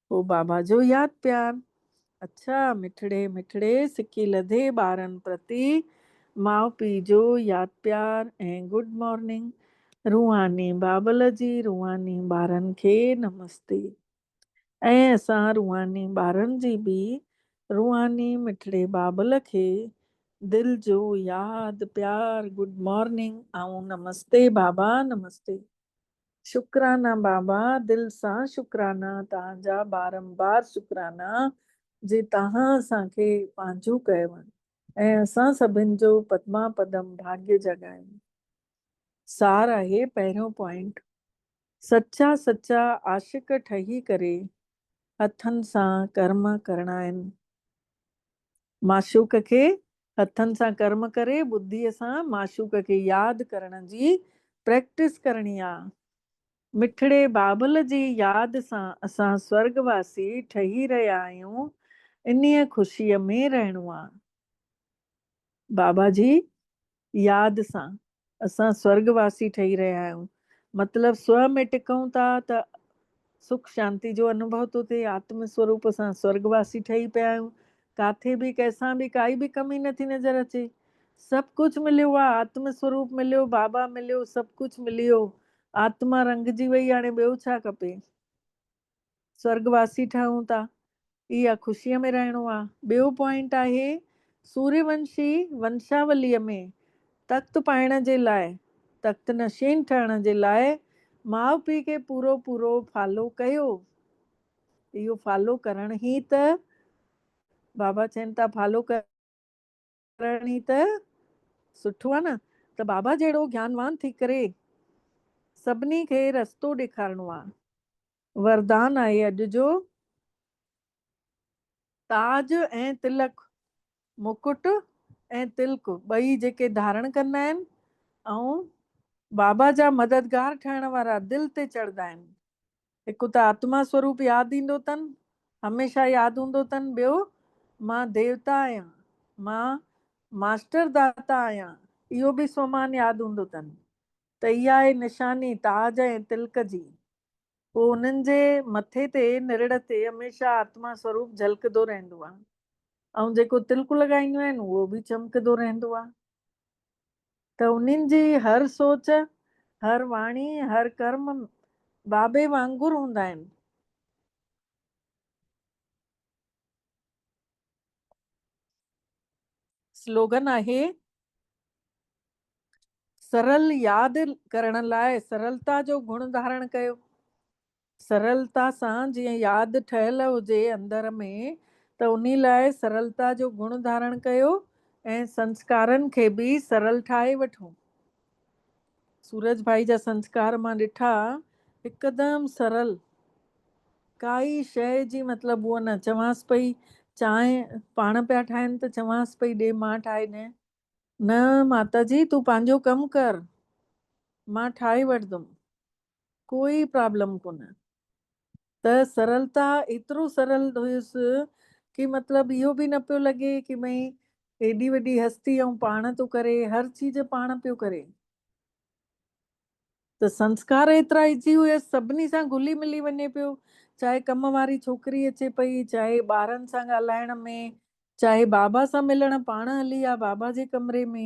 پوء بابا جو ياد پيار. اڇا مٺڙي مٺڙي سڪي لڌي ٻارن پرتي ماء پيء جو ياد پيار ۽ گڊ مارننگ. روحاني بابل جي روحاني ٻارن کي نمستي. ۽ اسان روحاني ٻارن جي به روحاني مٺڙي بابل کي دل جو ياد پيار گڊ مارننگ ۽ نمستي بابا نمستي. شڪرانا بابا دل سان شڪرانا توهان جا بارمبار شڪرانا جي توهان اسان کي پنهنجو ڪيو ۽ اسان سڀن جو پدما پدم ڀاڳي جاڳايو سار آهي پهريون پوائنٽ سچا سچا عاشق ٺهي ڪري هٿن سان ڪرم ڪرڻا آهن. معشوق کي هٿن سان ڪرم ڪري ٻڌيء سان معشوق کي ياد ڪرڻ جي پريڪٽس ڪرڻي آ. مٺڙي بابل جي ياد سان اسان سورڳ واسي ٺهي رهيا آهيون انهيء خوشيء ۾ رهڻو آ. بابا جي ياد سان اسان سورڳ واسي ٺهي رهيا آهيون مطلب سوء ۾ ٽڪون ٿا ته سک شانتي جو انوڀو ٿو ٿئي آتم سوروپ اسان سورڳ واسي ٺهي پيا آهيون ڪاٿي به ڪنهن سان به ڪائي به ڪمي نٿي نظر اچي سڀ ڪجهه مليو آهي آتم سوروپ مليو بابا مليو سڀ ڪجهه ملي ويو آتما رنگجي وئي هاڻي ٻيو ڇا کپي. سورڳ واسي ٺهون ٿا اها خوشيء ۾ رهڻو آ. ٻيو پوائنٽ آهي سوريه ونشي ونشاوليء ۾ تخت پائڻ جي لاء تخت نشين ٺهڻ جي لاء ماء پيء کي پورو پورو فالو ڪيو اهو فالو ڪرڻ هي ته بابا چين ٿا فالو ڪر. ڪرڻ ئي ته سٺو آ نه ته بابا جهڙو گيانوان ٿي ڪري سڀني کي رستو ڏيکارڻو آ. وردان آهي اڄ جو تاج ۽ تلڪ، مڪٽ ۽ تلڪ ٻئي جيڪي ڌارڻ ڪندا آهن ۽ بابا جا مددگار ٺهڻ وارا دل تي چڙهندا آهن، هڪ ته آتما سوروپ ياد ايندو تن، هميشه ياد هوندو تن، ٻيو مان ديوتا آهيان، مان ماسٽر داتا آهيان، اهو به سومان ياد هوندو تن ته هي آهي نشاني تاج ۽ تلڪ جي، پوء انهن جي مٿي تي نرڙ تي هميشه آتما سوروپ جهلڪدو رهندو آهي ۽ جيڪو تلڪ لڳائينديون آهن اهو به چمڪدو رهندو آهي. ته انهن جي هر سوچ، هر واڻي، هر ڪرم بابي وانگر هوندا آهن. سلوگن آهي، سرل ياد ڪرڻ لاء سرلتا جو گڻ ڌارڻ ڪيو. سرلتا سان جيئن ياد ٺهيل هجي اندر ۾ ته انهي لاء سرلتا جو گڻ ڌارڻ ڪيو ۽ سنسڪارن کي به سرل ٺاهي وٺون. سورج ڀائي جا سنسڪار مان ڏٺا هڪدم سرل ڪائي شيء جي مطلب هو نه چوانس پئي چانهه پاڻ پيا ٺاهن ته چوانس پئي ڏي مان ٺاهي ڏين نه ماتا جي تون پنهنجو ڪم ڪر مان ٺاهي وٺدم ڪوئي پرابلم ڪونه ته سرلتا ايترو سرل هيس ڪي مطلب اهو به نه پيو لڳي ڪي ڀئي ايڏي وڏي هستي ائون پاڻ ٿو ڪري هر چيز پاڻ پيو ڪري ته سنسڪار ايترا ايزي هيس سڀني سان گلي ملي وڃي پيو چاهي ڪم واري ڇوڪري اچي پئي چاهي ٻارن سان ڳالهائڻ ۾ چاهي بابا سان ملڻ پاڻ هلي آ بابا جي ڪمري ۾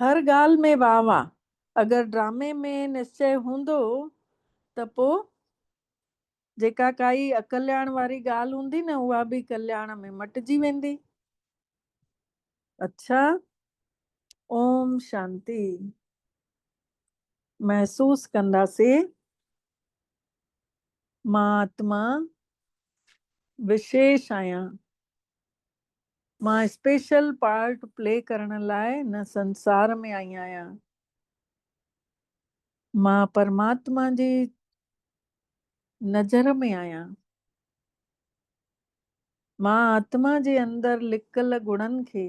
هر ڳالهه ۾ واه واه. اگر ڊرامي ۾ نشچئه هوندو ته پو جيڪا ڪائي اڪلياڻ واري ڳالهه هوندي نه اها به ڪلياڻ ۾ مٽجي ويندي. اڇا اوم شانتي محسوس ڪنداسي مان آتما وشيش آهيان. مان اسپيشل پارٽ پلي ڪرڻ لاء هن سنسار ۾ آئي آهيان. مان پرماتما جي نظر ۾ آهيان. مان آتما جي اندر لڪل گڻن کي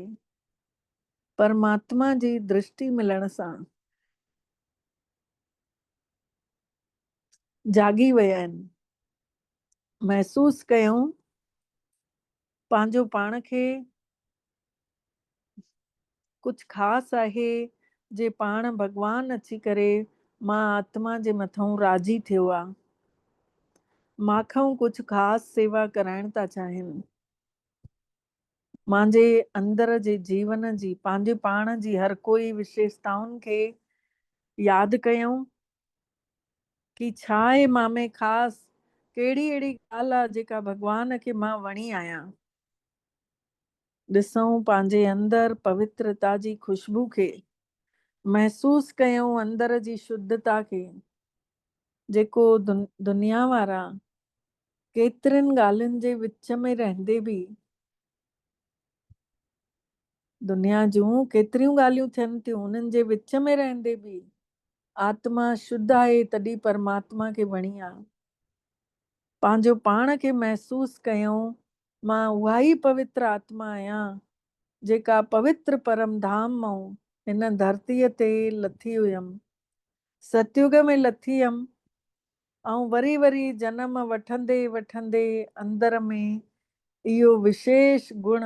پرماتما جي درشٽي ملڻ سان جاڳي ويا آهن. محسوس ڪيائون پنهنجو پاڻ کي ڪجهه خاص آهي جي پاڻ ڀڳوان اچي ڪري مان آتما جي مٿئون راضي ٿيو آ مانکئون ڪجهه خاص سيوا ڪرائڻ ٿا چاهين مانجي اندر جي جيون جي پنهنجي پاڻ جي هر ڪوئي وشيشتائن کي ياد ڪيئون ڪي ڇا آهي مان ۾ خاص؟ ڪهڙي اهڙي ڳالهه آ جيڪا ڀڳوان کي مان وڻي آهيان؟ ڏسئون پنهنجي اندر پوترتا جي خوشبو کي، محسوس ڪيئون اندر جي شڌتا کي، جيڪو دنيا وارا ڪيترين ڳالهين جي وچ ۾ رهندي به دنيا جون ڪيتريون ڳالهيون ٿين ٿيون، انهن جي وچ ۾ رهندي به آتما شڌ آهي تڏهن پرماتما کي وڻي آ. پنهنجو پاڻ کي محسوس ڪيون مان اها ئي پوتر آتما آهيان جيڪا پوتر پرم ڌام مئون هن ڌرتيء تي لٿي هيم. ستيوڳ ۾ لٿي هيم آئون وري وري جنم وٺندي وٺندي اندر ۾ اهو وشيش گڻ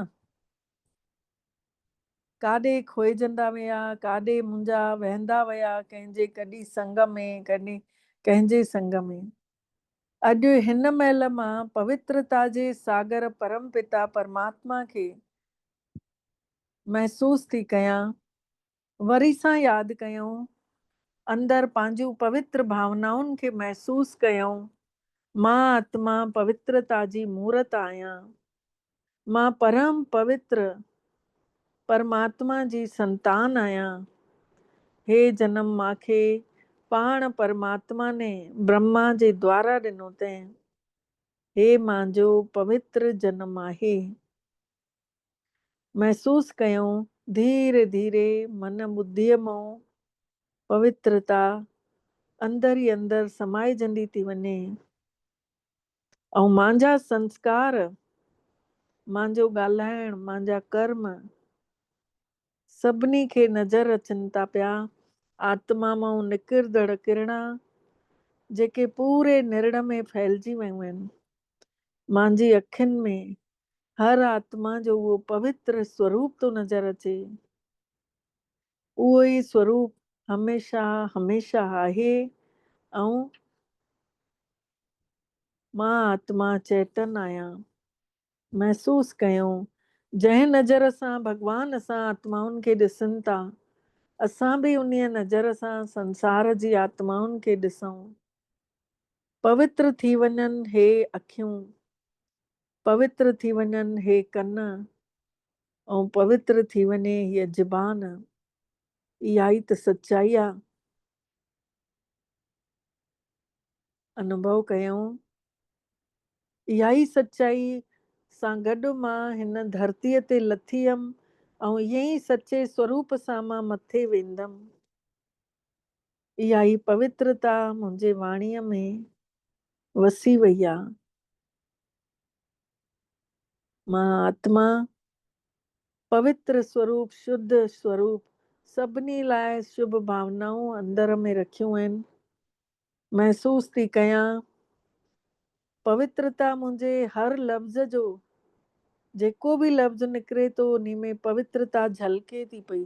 ڪاڏي کوئجندا ويا، ڪاڏي منهنجا وهندا ويا ڪنهن جي ڪڏي سنگ ۾ ڪڏي ڪنهن جي سنگ ۾. اڄ هن مهل مان پوترتا جي ساگر پرم پتا پرماتما کي محسوس ٿي ڪيان. وري سان ياد ڪيائون، اندر پنهنجون پوتر ڀاونائن کي محسوس ڪيائون، مان آتما پوترتا جي مورت آهيان. مان پرم پوتر پرماتما جي سنتان آهيان. هي جنم مان کي پاڻ پرماتما ني برهما جي دوارا ڏنو تين. هي مانجو پوتر جنم آهي. محسوس ڪيائون، ڌيري ڌيري من ٻڌيء مئو پوترتا اندر ئي اندر سمائجندي ٿي وڃي ۽ مانجا سنسڪار، مانجو ڳالهائڻ، مانجا ڪرم سڀني کي نظر اچن ٿا پيا. آتما مئو نڪرندڙ ڪرڻا جيڪي پوري نرڙ ۾ ڦهلجي ويون آهن، مانجي اکين ۾ هر آتما جو اهو پوتر سوروپ ٿو نظر اچي. اهو ئي سوروپ هميشه هميشه آهي ۽ مان آتما چيتن آهيان. محسوس ڪيو، جنهن نظر سان ڀڳوان اسان آتمائن کي ڏسن ٿا، اسان به انهيء نظر سان سنسار جي آتمائن کي ڏسون. پوتر ٿي وڃن هي اکيون، پوتر ٿي وڃن هي ڪن، ۽ پوتر ٿي وڃي هيء زبان، اها ئي ته سچائي آ. انوڀو ڪيائون، اها ئي سچائي سان گڏ مان هن ڌرتيء تي لٿي هيم، ۽ ائين ئي سچي سوروپ سان مان مٿي ويندم. اها ئي پوترتا منهنجي واڻيء ۾ وسي وئي آ. مان آتما، پوتر سوروپ، شڌ سوروپ، سڀني لاء شڀ ڀاونائون اندر ۾ رکيون آهن. محسوس ٿي ڪيان. پوترتا منهنجي هر لفظ جو، جيڪو به لفظ نڪري ٿو انهي ۾ پوترتا جهلڪي ٿي پئي.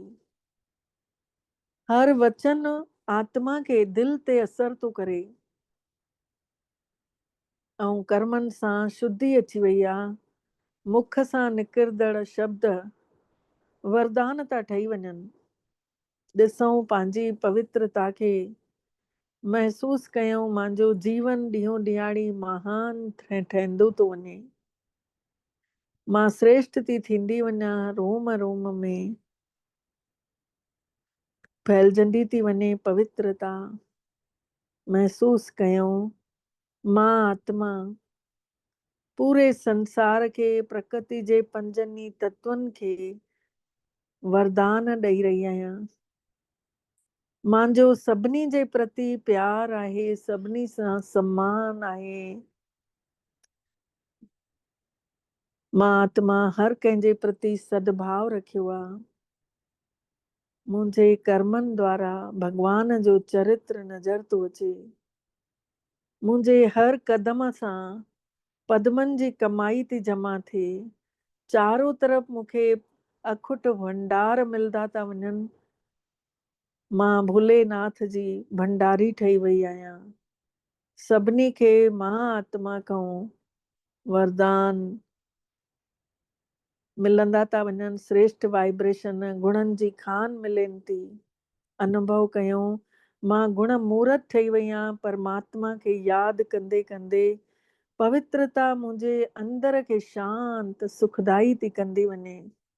هر وچن آتما کي دل تي اثر ٿو ڪري. ۽ ڪرمن سان شڌي اچي وئي آ، مک سان نڪردڙ شبد وردان ٿا ٺهي وڃن. ڏسئون پنهنجي پوترتا کي، محسوس ڪيئون مانجو جيون ڏينهون ڏينهاڙي مهان ٺهندو ٿو وڃي. مان سريشٽ ٿي ٿيندي وڃان روم روم ۾. ڦهلجندي ٿي وڃي پوترتا محسوس ڪيون مان آتما پوري سنسار کي پرڪرتي جي پنجن ئي تتون کي وردان ڏئي رهي آهيان مانجو سڀني جي پرتي پيار آهي سڀني سان سمان آهي مهاتما هر ڪنهن جي پرتي سڏڀاء رکيو آ. منهنجي ڪرمن دوارا ڀڳوان جو چرتر نظر ٿو اچي. منهنجي هر قدم سان پدمن جي ڪمائي ٿي جمع ٿئي. چارو طرف مون کي اکٽ ڀنڊار ملدا ٿا وڃن. مان ڀولي ناٿ جي ڀنڊاري ٺهي وئي آهيان. سڀني کي مها آتما کانئون وردان ملندا ٿا وڃن، سريشٺ وائبريشن گڻن جي کان ملين ٿي. انوڀو ڪيو، مان گڻ مورت ٺهي وئي آهيان، پرماتما کي ياد ڪندي ڪندي پوترتا منهنجي اندر کي شانت، سکدائي ٿي ڪندي وڃي.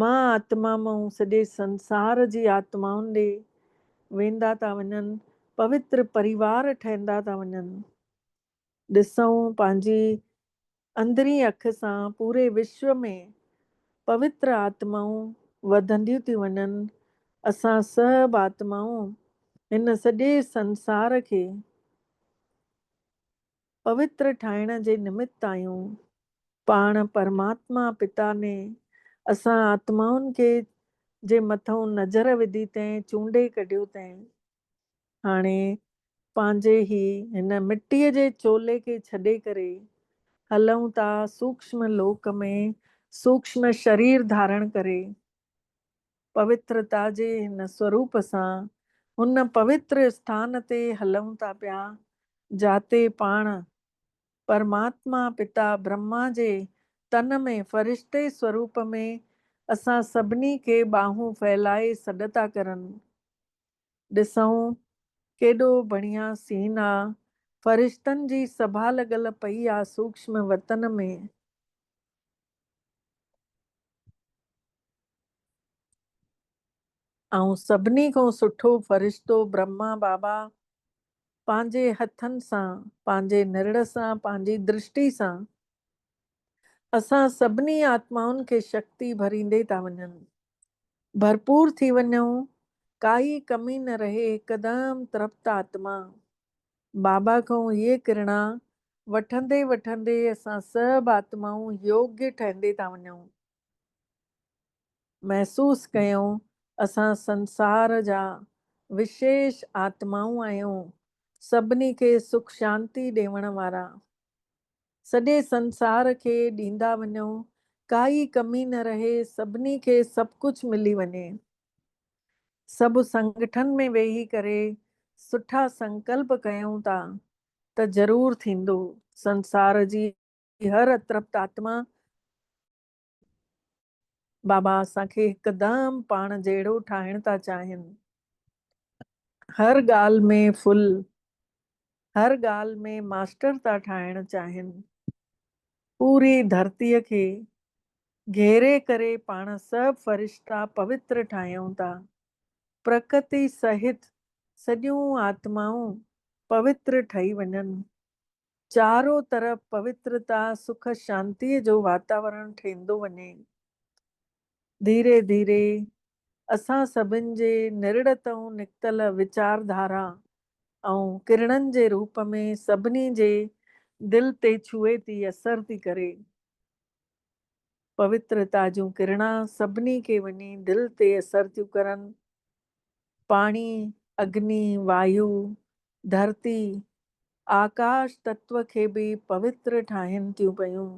مها آتما مئون سڄي سنسار جي آتمائن ڏي ويندا ٿا وڃن، پوتر پريوار ٺهندا ٿا وڃن. ڏسئون پنهنجي اندرين اک سان پوري وشو ۾ پوتر آتمائون وڌنديون ٿيون وڃن، اسان سڀ آتمائون هن سڄي سنسار کي. پوتر ٺاهڻ جي نمت آهيون. پاڻ پرماتما پتا ني اسان آتمائن کي جي مٿئون نظر وڌي تنهن چونڊي ڪڍيو تنهن هاڻي پنهنجي هي هن مٽيء جي چولي کي ڇڏي ڪري هلئون ٿا سوڪشم لوڪ ۾ سوڪشم شرير ڌارڻ ڪري پوترتا جي هن سوروپ سان هن پوتر اسٿان تي هلون ٿا پيا، جاتي پاڻ پرماتما پتا برهما جي تن ۾ فرشتي سوروپ ۾ اسان سڀني کي ٻانهون ڦهلائي سڏ ٿا ڪرن. ڏسئون ڪيڏو بڻيا سين آ، فرشتن جي سڀا لڳل پئي آ سوڪشم وتن ۾. ائين سڀني کان سٺو فرشتو برهما بابا پنهنجي هٿن سان، پنهنجي نرڙ سان، پنهنجي درشٽي سان اسان سڀني آتمائن کي شڪتي ڀريندي ٿا وڃن. ڀرپور ٿي وڃون، ڪائي ڪمي نه رهي، هڪدم ترپت آتما. بابا کئون هيء ڪرڻا وٺندي وٺندي اسان سڀ آتمائون يوگي ٺهندي ٿا وڃون. محسوس ڪيون اسان سنسار جا وشيش آتمائون آهيون، سڀني کي سک شانتي ڏيوڻ وارا. سڄي سنسار کي ڏيندا وڃون، ڪائي ڪمي نه رهي، سڀني کي سڀ ڪجهه ملي وڃي. سڀ سنگٺن ۾ ويهي ڪري سٺا سنڪلپ ڪيون ٿا ته ضرور ٿيندو. سنسار جي هر اترپت آتما بابا اسان کي هڪدم پاڻ جهڙو ٺاهڻ ٿا چاهين. هر ڳالهه ۾ ڦل هر ڳالهه ۾ ماسٽر ٿا ٺاهڻ چاهين. پوري ڌرتيء کي گهيري ڪري پاڻ سڀ فرشتا پوتر ٺاهيون ٿا. پرڪتي سهت سڄيون آتمائون پوتر ٺهي وڃن. چارو طرف پوترتا سک شانتيء جو واتاورڻ ٺهندو وڃي. ڌيري ڌيري اسان سڀن جي نرڙ تئون نڪتل ويچار ڌارا ائون ڪرڻن جي روپ ۾ سڀني جي دل تي ڇهي ٿي اثر ٿي ڪري. پوترتا جون ڪرڻا سڀني کي وڃي دل تي اثر ٿيون ڪرن. پاڻي، اگني، وايو، ڌرتي، آڪاش تتو کي به پوتر ٺاهين ٿيون پيون.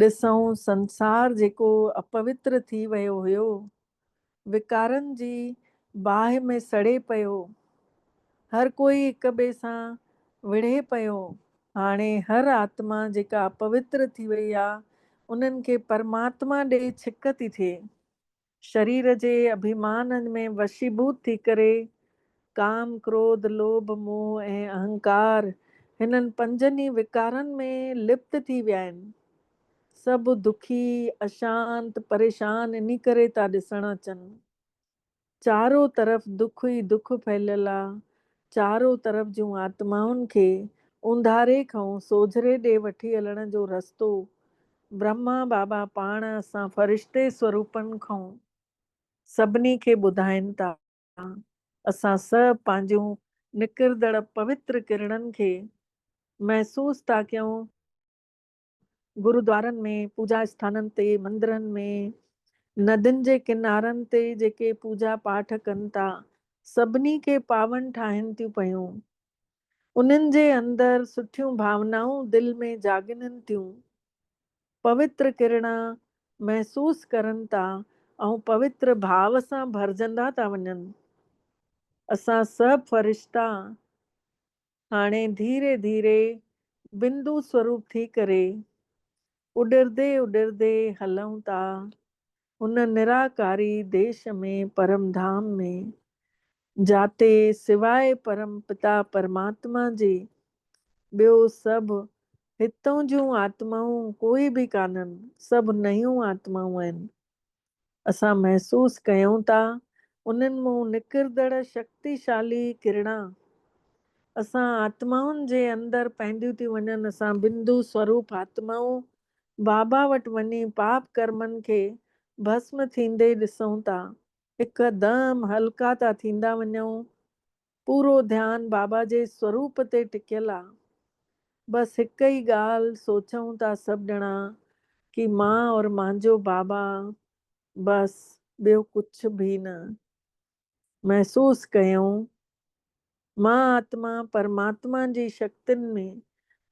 ڏسئون سنسار جيڪو اپوتر ٿي ويو هيو، وڪارن جي باهه ۾ سڙي پيو، هر ڪوئي هڪ ٻئي سان وڙهي پيو، هاڻي هر آتما جيڪا اپوتر ٿي وئي آ، انهن کي پرماتما ڏي ڇڪ ٿي ٿئي. شرير جي اڀيمان ۾ وشيڀوت ٿي ڪري، ڪام، ڪروڌ، لوڀ، موهه ۽ اهنڪار هنن پنجن ئي وڪارن ۾ لپت ٿي ويا آهن. سڀ دکي، اشانت، پريشان انهي ڪري ٿا ڏسڻ اچن. چارو طرف دک ئي دک ڦهليل آ، چارو طرف جون آتمائن کي اونداھري کئون سوجھري ڏي وٺي ھلڻ جو رستو برھما بابا پاڻ اسان فرشتي سوروپن کئون سڀني کي ٻڌائين ٿا. اسان سڀ پنھنجون نڪردڙ پوتر ڪرڻن کي محسوس ٿا ڪيون. گرودوارن ۾، پوڄا اسٿانن تي، مندرن ۾، ندين جي ڪنارن تي جيڪي پوڄا پاٺ ڪن ٿا، سڀني کي پاون ٺاهين ٿيون پيون. انهن جي اندر سٺيون ڀاونائون دل ۾ جاڳنن ٿيون. پوتر ڪرڻا محسوس ڪرن ٿا ۽ پوتر ڀاء سان ڀرجندا ٿا وڃن. اسان سڀ فرشتا هاڻي ڌيري ڌيري بندو سوروپ ٿي ڪري اڏرندي اڏرندي هلون ٿا هن نراڪاري ديش ۾ پرم ڌام ۾، جاتي سواء پرم پتا پرماتما جي ٻيو سڀ هتون جون آتمائون ڪوئي به ڪانهن، سڀ نيون آتمائون آهن. اسان محسوس ڪيون ٿا انهن مون نڪردڙ شڪتيشالي ڪرڻا اسان آتمائن جي اندر پهنديون ٿيون وڃن اسان بندو سوروپ آتمائون بابا وٽ وڃي پاپ ڪرمن کي ڀسم ٿيندي ڏسون ٿا هڪ دم هلڪا ٿا ٿيندا وڃون پورو ڌيان بابا جي سوروپ تي ٽڪيل آ. بس هڪ ئي ڳالهه سوچئون ٿا سڀ ڄڻا ڪي مان اور مانجو بابا بس ٻيو ڪڇ ڀي نه. محسوس ڪيئون مان آتما پرماتما جي شڪتين ۾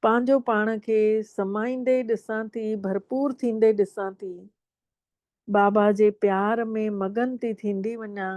پانجو پاڻ کي سمائيندي ڏسان ٿي ڀرپور ٿيندي ڏسان ٿي. بابا جي پيار ۾ مگن ٿي ٿيندي وڃان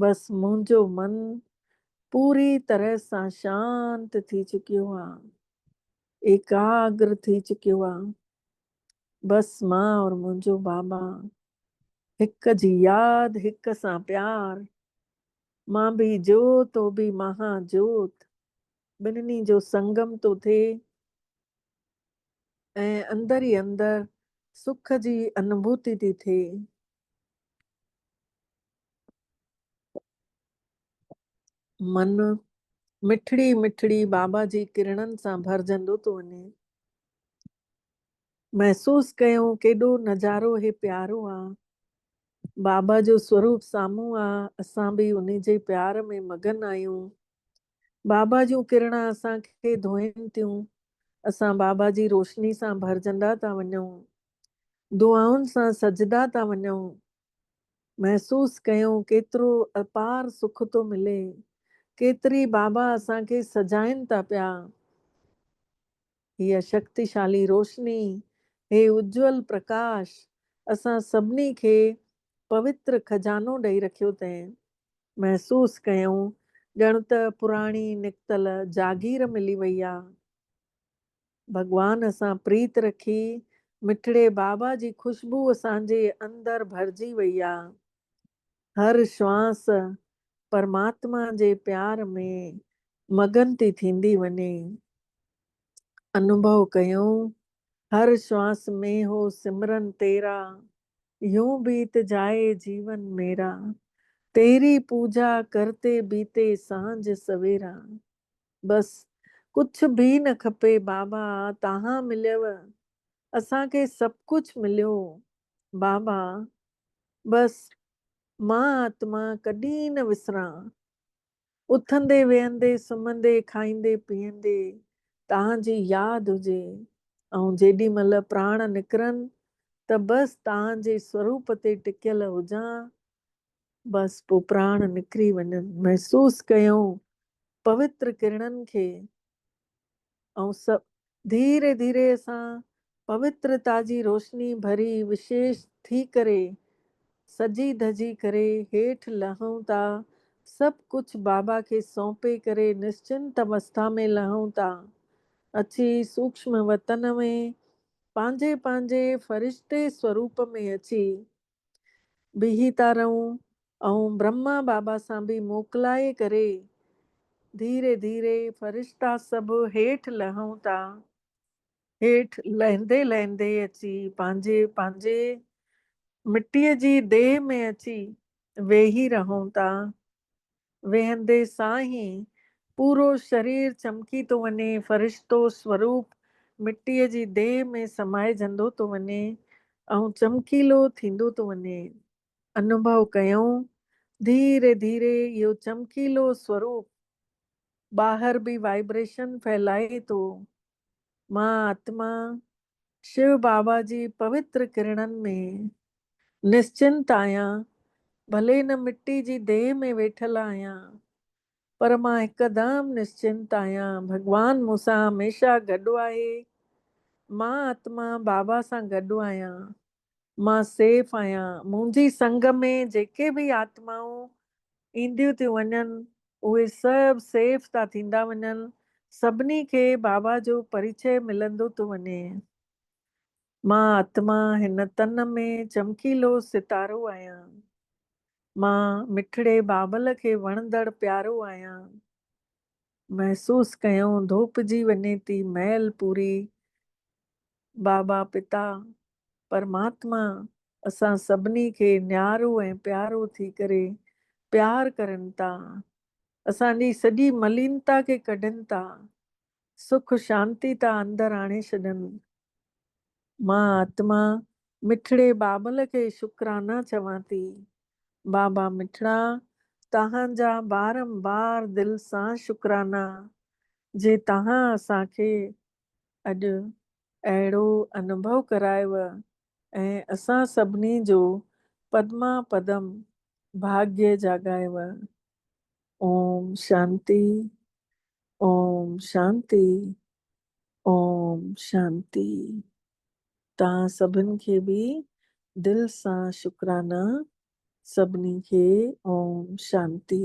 بس منهنجو من پوري طرح سان شانت ٿي چڪيو آ ايڪاگر ٿي چڪيو آ بس مان اور منهنجو بابا هڪ جي ياد هڪ سان پيار مان به جوت هو به مها جوت ٻنهي جو سنگم ٿو ٿئي ۽ اندر ئي اندر سک جي انڀوتي ٿي ٿئي من مٺڙي مٺڙي بابا جي ڪرڻن سان ڀرجندو ٿو وڃي. محسوس ڪيو ڪيڏو نظارو هي پيارو آ. بابا جو سوروپ سامهون آ اسان به انهي جي پيار ۾ مگن آهيون. بابا جون ڪرڻا اسان کي ڌوئين ٿيون. اسان بابا جي روشني سان ڀرجندا ٿا وڃون. دعائن سان سجدا ٿا وڃون، محسوس ڪيون ڪيترو اپار سک ٿو ملي، ڪيتري بابا اسان کي سجائن ٿا پيا. هيء شڪتيشالي روشني، هي اجول پرڪاش اسان سڀني کي پوتر خزانو ڏئي رکيو تئين. محسوس ڪيون ڄڻ ته پراڻي نڪتل جاگير ملي وئي آ. ڀڳوان سان پريت رکي، مٺڙي بابا جي خوشبو اسان جي اندر ڀرجي وئي آ. هر شوانس پرماتما جي پيار ۾ مگن ٿي ٿيندي وڃي. انوڀو ڪيون هر شوانس ۾ هو سمرن تيرا، يون بيت جائي جيون ميرا، تيري پوجا ڪرتي بيتي سانجھ سويرا. بس ڪڇ بي نه کپي بابا تاهان مليو اسان کي سڀ ڪڇ مليو بابا بس مان آتما ڪڏي نه وسران اٿندي ويهندي سمهندي کائيندي پيئندي تاهان جي ياد هجي ۽ جيڏي مهل پراڻ نڪرن ته بس تاهان جي سوروپ تي ٽڪيل هجان بس پوء پراڻ نڪري وڃن. محسوس ڪيائون پوتر ڪرڻن کي ۽ سڀ ڌيري ڌيري سان پوترتا جي روشني ڀري وشيش ٿي ڪري سجي ڌجي ڪري هيٺ لهون ٿا سڀ ڪجهه بابا کي سونپي ڪري نشچنت اوسٿا ۾ لهون ٿا اچي سوڪشم وتن ۾ پنهنجي پنهنجي فرشتي سوروپ ۾ اچي بيهي ٿا رهون ۽ برهما بابا سان به موڪلائي ڪري ڌيري ڌيري فرشتا سڀ هيٺ لهون ٿا. هيٺ لهندي لهندي اچي پنهنجي پنهنجي مٽيء جي ديهه ۾ اچي ويهي رهون ٿا. ويهندي سان ئي پورو شرير چمڪي ٿو وڃي، فرشتو سوروپ مٽيء جي ديهه ۾ سمائجندو ٿو وڃي ۽ چمڪيلو ٿيندو ٿو وڃي. انوڀو ڪيائون، ڌيري ڌيري اهو چمڪيلو سوروپ ٻاهر به وائبريشن ڦهلائي ٿو. مان آتما شو بابا جي پوتر ڪرڻن ۾ نشچنت آهيان، ڀلي هن مٽي جي ديهه ۾ ويٺل آهيان، پر مان هڪدم نشچنت آهيان، ڀڳوان مون سان هميشه گڏ آهي، مان آتما بابا سان گڏ آهيان. مان سيف آهيان. منهنجي سنگ ۾ جيڪي به آتمائون اينديون ٿيون وڃن، اهي سڀ سيف ٿا ٿيندا وڃن. سڀني کي بابا جو پريچئه ملندو ٿو وڃي. مان آتما هن تن ۾ چمڪيلو ستارو آهيان. مان مٺڙي بابل کي وڻندڙ پيارو آهيان. محسوس ڪيون ڌوپجي وڃي ٿي مئل پوري بابا پتا پرماتما اسان سڀني کي نيارو ۽ پيارو ٿي ڪري پيار ڪرن ٿا. اسان جي سڄي ملينتا کي ڪڍن ٿا. سک شانتي ٿا اندر آڻي ڇڏن. مان آتما مٺڙي بابل کي شڪرانا چوان ٿي. بابا مٺڙا توهان جا بارمبار دل سان شڪرانا جي توهان اسان کي اڄ اهڙو انڀو ڪرايو ۽ اسان سڀني جو پدما پدم ڀاگي جاڳايو. اوم شانتي اوم شانتي اوم شانتي توهان سڀن کي به دل سان شڪرانا سڀني کي اوم شانتي.